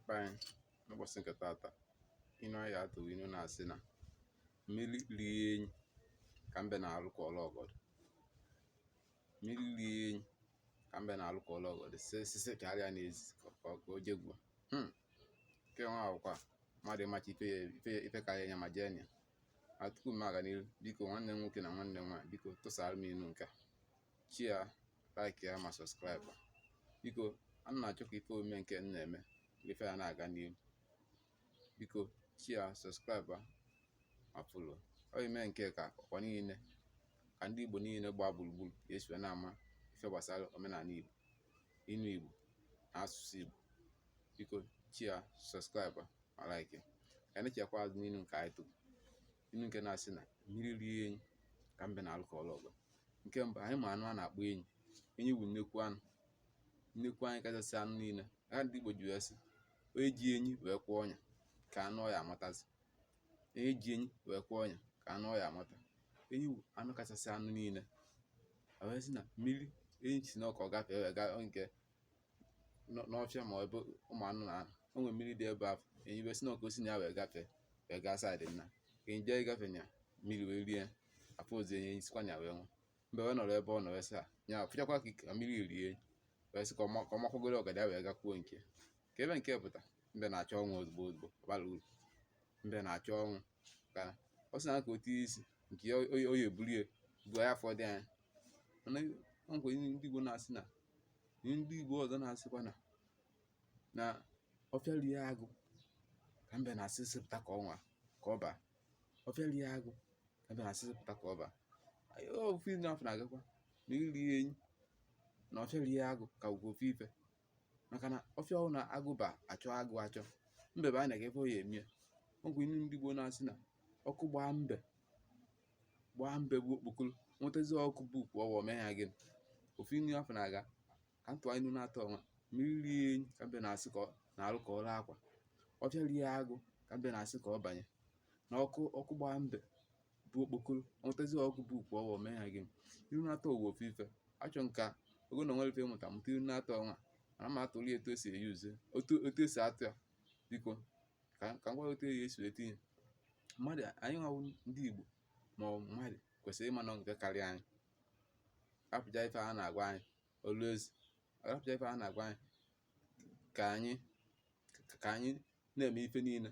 be anyị n'ụbọchị nke tata inu anyị ya-atụ wụ inu na-asị na mmiri rie enyi ka mbe na-alụ ka ọla ọgọdọ mmiri rie enyi ka mbe na-alụ ka ọla ọgọdọ si sisi ka arịa na-ezi ka ọ- ka o jegbuo Hmm. nke nwa awụkwa mmadụ ịmacha ife ya- ife ya- ife karịa nya ma jee na ya ma tupu m aga n'ihu biko nwanne m nwoke na nwanne m nwaanyị biko tụsara m inu nke a share like ya ma subscribe biko ana m achọ ka ife omume nke m na-eme ife ya na-aga n'ihu biko share subscribe ma follow ọ ime nke ka ọkwa niile ka ndị Igbo niile gbaa gburugburu ga-esi na-ama ife gbasara omenala Igbo inu Igbo na asụsụ Igbo biko share subscribe ma like ka anyị chekwa azụ n'inu nke anyị tụrụ inu nke na-asị na mmiri rie enyi ka mbe na-alụ ka ọla ọgọdọ nke mbụ anyị ma anụ a na-akpọ enyi enyi bụ nnekwu anụ nnekwu anụ kachasị anụ niile ya ka ndị Igbo ji wee sị onye ji enyi wee kwee ọnya kee anụ ọ ya-amatazi onye ji enyi wee kwee ọnya kee anụ ọ ya-amata enyi bụ anụ kachasị anụ niile wee sị na mmiri enyi sị na ọ ka ọ gafee wee gaa nke n'ọfịa ma ebe ụmụ anụ na-anọ o nwere mmiri dị ebe ahụ enyi wee sị na ọ ka o si na ya wee gafee wee gaa side nna ka enyi jee ịgafe nya mmiri wee rie afọ ozi enyi sikwa nya wee nwụọ mbe wee nọrọ ebe ọ nọ wee sị a nya fụchakwa ka mmiri rie enyi wee sị ka ọ makwagoro ọgọdọ ya wee gakwuo nke kee ife nke a pụta mbe na-achọ ọnwụ ozugbo ozugbo ọ bara uru mbe na-achọ ọnwụ ka ọ sị na ka o tie isi nke ya oyi oyi eburu ya bụ ya afọ dị anya mana o nwekwa ihe ndị Igbo na-asị na ihe ndị Igbo ọzọ na-asịkwa na na ọfịa rie agụ ka mbe na-asị sịpụta ka ọnwa ka ọ baa ọfịa rie agụ ka mbe na-asị sịpụta ka ọ baa Anyị- ofu inu afụ na-agakwa na mmiri rie enyi na ọfịa rie agụ ka ekwu ofu ife maka na ọfịa ọ wụ na agụ baa a chọọ agụ achọ mbe baa na ya kee ife ọ ya-eme ọ wụ inu ndị Igbo na-asị na ọkụ gbaa mbe gbaa mbe bu okpokoro nwetazi ọkụkọ bu ukwu ọwa mee ya gịnị ofu inu afụ na-aga ka m tụọ inu naatọ ọnwa mmiri rie enyi ka mbe na-asị ka na alụ ka ọrụ akwa ọfịa rie agụ ka mbe na-asị ka ọ banye na ọkụ gbaa mbe bu okpokoro nwetazi ọkụkọ bu ukwu ọwa mee ya gịnị inu naatọ wụ ofu ife achọ m ka ogo na nwere ife mụta mụta inu naatọ ọnwa ana m atụrụ ya etu esi e use otu otu esi atụ ya biko ka ka m gwa otu eyi esi etinye mmadụ anyị nwa wụ ndị igbo ma ọ bụ mmadụ kwesịrị ịma na nke karịa anyị rapụcha ife a na-agwa anyị always rapụcha ife a na-agwa anyị ka anyị ka anyị na-eme ife niile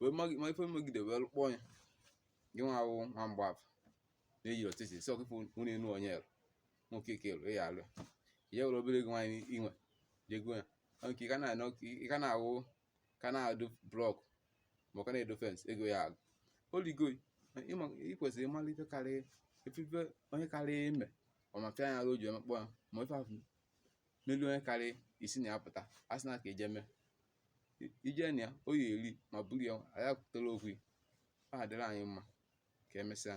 wee ma ife megide wee kpọọ ya gị nwa awụ nwa mgbafọ na-eyi ọtịtị si ọkụkọ nwunye enu onye elu nwoke ike elu ya alụ ya were obere ego nwaanyị inwe jego ya nke ka na-anọ ka na-awụ ka na-adụ blọk ma ka na-edo fensị ego ya agwụ oligo ị kwesịrị ịmara ife karịa ife onye karịa ime ọ ma fịa anya o ji emekpọ ya ma ife ahụ melu onye karịa isi na ya pụta a sị na ka eje mee ije na ya o ya eri ma buru ya anyị ekwutere okwu ọ adịrị anyị mma ka emesịa